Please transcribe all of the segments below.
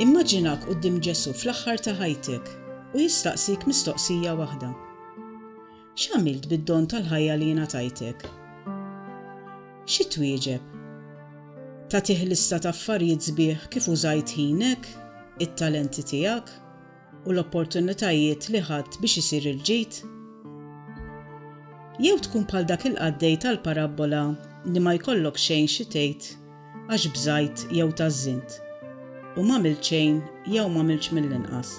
Immaġinak quddiem Ġesu fl-aħħar ta' ħajtek u jistaqsik mistoqsija waħda. X'għamilt bid-don tal-ħajja li jingħatajtek? Xi twieġeb? Tagħtih lista ta' affarijiet sbieħ kif użajt ħinek, it-talenti tiegħek, u l-opportunitajiet li ħadt biex isir il-ġid? Jew tkun bħal dak il-qaddej tal-parabbola li ma jkollok xejn xi tgħid għax bżajt jew tażżint, u m'għamilt xejn jew m'għamiltx mill-inqas?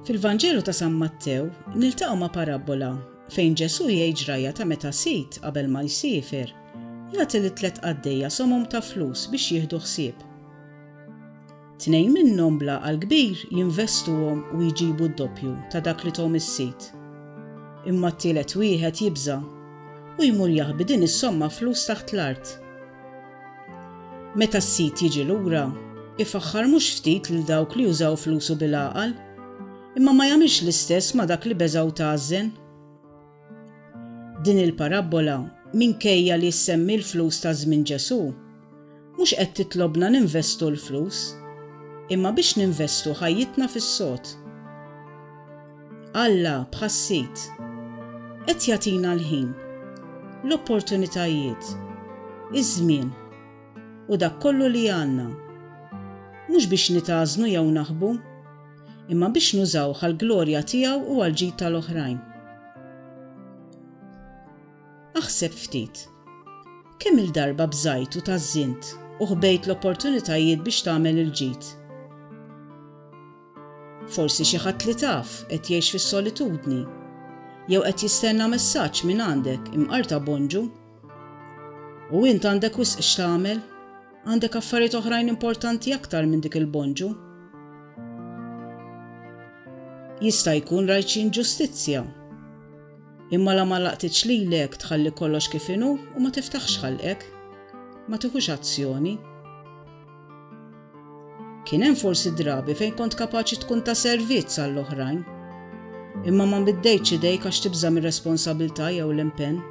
Fil-Vanġelu ta' San Mattew niltaqgħu ma' parabbola fejn Ġesù jgħid ġrajja ta' meta sid, qabel ma jsiefer, jagħti lit-tliet qaddejja somom ta' flus biex jieħdu ħsieb. Tnejn minnhom bl-għaqal kbir jinvestuhom u jġibu d-doppju ta' dak li thom is-sid. Imma t-tielet wieħed jibża' u jmur jaħbi din is-somma flus taħt l-art. Meta s-sid jiġi lura, ifaħħar mhux ftit lil dawk li użaw flusu bil-għaqal, imma ma jagħmilx l-istess ma' dak li beża' u tgħażżen. Din il-parabbola, minkejja li ssemmi l-flus ta' żmien Ġesù, mhux qed titlobna ninvestu l-flus, imma biex ninvestu ħajjitna fis-sod. Alla, bħas-sid, qed jagħtina l-ħin, l-opportunitajiet, iż-żmien, u dak kollu li għandna, mhux biex nitgħażnu jew naħbu, imma biex nużawh għall-glorja tiegħu u għall-ġid tal-oħrajn. Aħseb ftit. Kemm il-darba bżajt u tażżint u ħbejt l-opportunitajiet biex tagħmel il-ġid? Forsi xi ħadd li taf qed jgħix fis-solitudni jew qed jistenna messaġġ minn għandek imqarta bonġu. U int għandek wisq x'tagħmel? Għandek affarijiet oħrajn importanti aktar minn dik il-bonġu? Jista' jkun rajt xi inġustizzja. Imma la ma laqtitx lilek tħalli kollox kif inhu u ma tiftaħx ħalqek. Ma tieħux azzjoni. Kien hemm forsi drabi fejn kont kapaċi tkun ta' servizz għall-oħrajn. Imma ma mbiddejtx idejk għax tibża' mir-responsabilità jew l-impenn.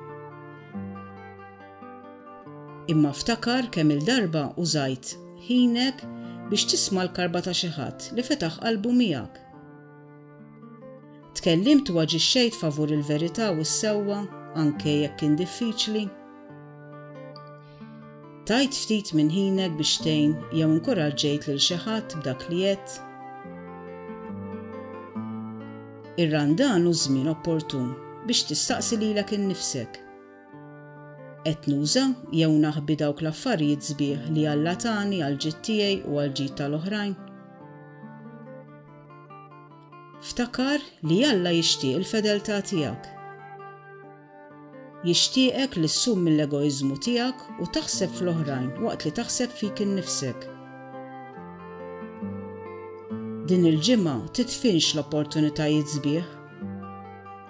Imma ftakar kemm-il darba użajt ħinek biex tisma' l-karba ta' xi ħadd li fetaħ qalbu miegħek. Tkellimt u aġixxejt favur il-verità u s-sewwa anke jekk kien diffiċli? Tajt ftit minn ħinek biex tgħin jew inkuraġġejt lil xi ħadd b'dak li għedt? Ir-Randan hu żmien opportun biex tistaqsi lilek innifsek. Qed nuża jew naħbi dawk l-affarijiet sbieħ li Alla tani għall-ġid tiegħi u għall-ġid tal-oħrajn? Ftakar li Alla jixtieq il-fedeltà tiegħek. Jixtieqek li ssum mill-egoiżmu tiegħek u taħseb fl-oħrajn waqt li taħseb fik innifsek. Din il-ġimgħa titfinx l-opportunitajiet sbieħ.